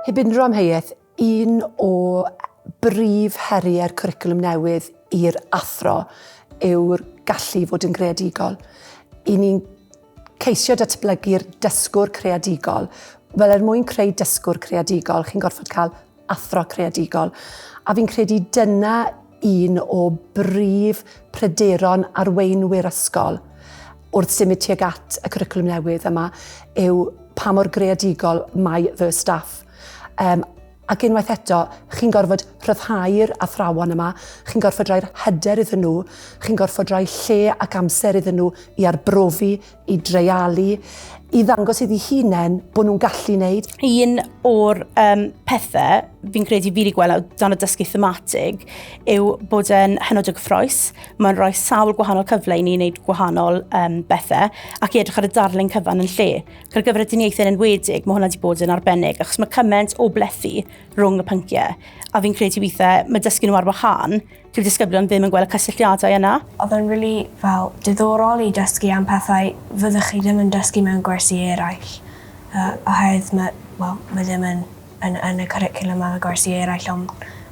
Heb unrhyw amheuaeth, un o brif heriau'r cwricwlwm newydd i'r athro yw'r gallu i fod yn greadigol. I ni'n ceisio datblygu'r dysgwr creadigol. Wel, er mwyn creu dysgwr creadigol, chi'n gorfod cael athro creadigol, a fi'n credu dyna un o brif pryderon arweinwyr ysgol wrth symud tuag at y cwricwlwm newydd yma yw pa mor greadigol mae fy staff. Um, ac unwaith eto, chi'n gorfod rhyddhau'r athrawon yma, chi'n gorfod rhoi'r hyder iddyn nhw, chi'n gorfod rhoi lle ac amser iddyn nhw i arbrofi, i dreialu, i ddangos iddi hunain bod nhw'n gallu wneud. Un o'r um, pethau fi'n credu fi wedi gweld dan y dysgu thematig yw bod yn hynod o gyffroes. Mae'n rhoi sawl gwahanol cyfle i ni wneud gwahanol um, bethau ac i edrych ar y darlun cyfan yn lle. Gyda gyfer y diniaethau yn enwedig, mae hwnna wedi bod yn arbennig achos mae cymaint o blethu rhwng y pynciau. A fi'n credu weithiau mae dysgu nhw ar wahân Dyw disgyblion ddim yn gweld y cysylltiadau yna. Oedd e'n rili fel diddorol i dysgu am pethau fyddech chi ddim yn dysgu mewn gwersi eraill yy oherwydd ma' wel ma' ddim yn yn yn y cwricwlwm ar y gwersi eraill on'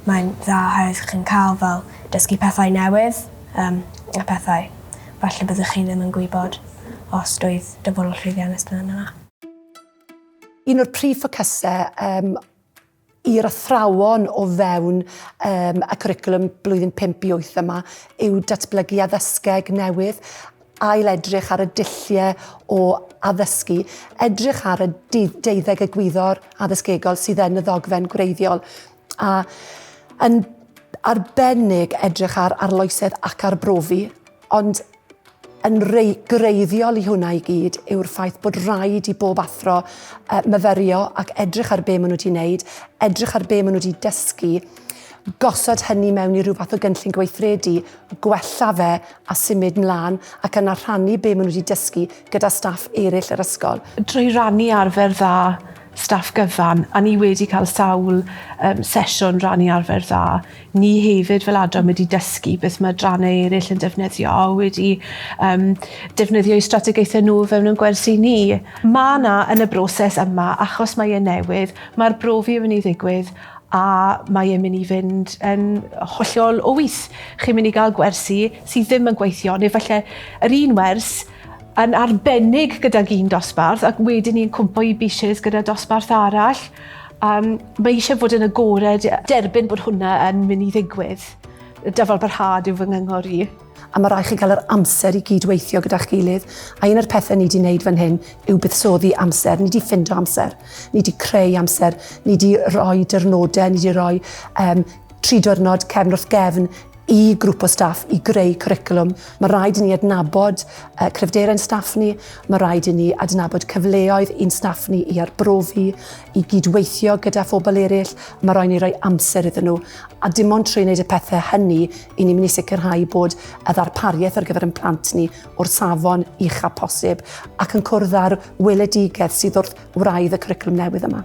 mae'n dda oherwydd chi'n ca'l fel dysgu pethau newydd yym a pethau falle byddech chi ddim yn gwybod os doedd dyfodol llwyddiannus ddim yna. Un o'r prif ffocyse yym i'r athrawon o fewn um, y cwricwlwm blwyddyn 5 i 8 yma yw datblygu addysgeg newydd, ail edrych ar y dulliau o addysgu, edrych ar y deuddeg egwyddor addysgegol sydd yn y ddogfen gwreiddiol, a yn arbennig edrych ar arloesedd ac arbrofi, ond yn greiddiol i hwnna i gyd yw'r ffaith bod rhaid i bob athro uh, myferio ac edrych ar be maen nhw wedi wneud, edrych ar be maen nhw wedi dysgu, gosod hynny mewn i rhywbeth o gynllun gweithredu, gwella fe a symud mlaen ac yna rhannu be maen nhw wedi dysgu gyda staff eraill yr ysgol. Drwy rannu arfer dda staff gyfan a ni wedi cael sawl um, sesiwn rannu arfer dda. Ni hefyd fel adran wedi dysgu beth mae adrannau eraill yn defnyddio a wedi um, defnyddio i strategaethau nhw fewn yn gwersi ni. Mae yna yn y broses yma, achos mae e'n newydd, mae'r brofi yn mynd i ddigwydd a mae e'n mynd i fynd yn hollol o wyth. Chi'n mynd i gael gwersi sydd ddim yn gweithio, neu falle yr un wers yn arbennig gydag un dosbarth ac wedyn ni'n cwmpo i biches gyda dosbarth arall. Um, mae eisiau fod yn agored, derbyn bod hwnna yn mynd i ddigwydd. Dyfal barhad yw fy ngyngor i. A mae rhaid chi cael yr amser i gyd-weithio gyda'ch gilydd. A un o'r pethau ni wedi wneud fan hyn yw buddsoddi amser. Ni wedi ffindo amser. Ni wedi creu amser. Ni wedi rhoi dyrnodau. Ni wedi rhoi um, Tri diwrnod cefn wrth gefn i grŵp o staff i greu cwricwlwm. Mae rhaid i ni adnabod uh, cryfderau yn staff ni, mae rhaid i ni adnabod cyfleoedd i'n staff ni i arbrofi, i gydweithio gyda phobl eraill, mae rhaid ni roi amser iddyn nhw. A dim ond trwy wneud y pethau hynny i ni'n mynd i sicrhau bod y ddarpariaeth ar gyfer yn plant ni o'r safon ucha posib ac yn cwrdd â'r weledigaeth sydd wrth wraidd y cwricwlwm newydd yma.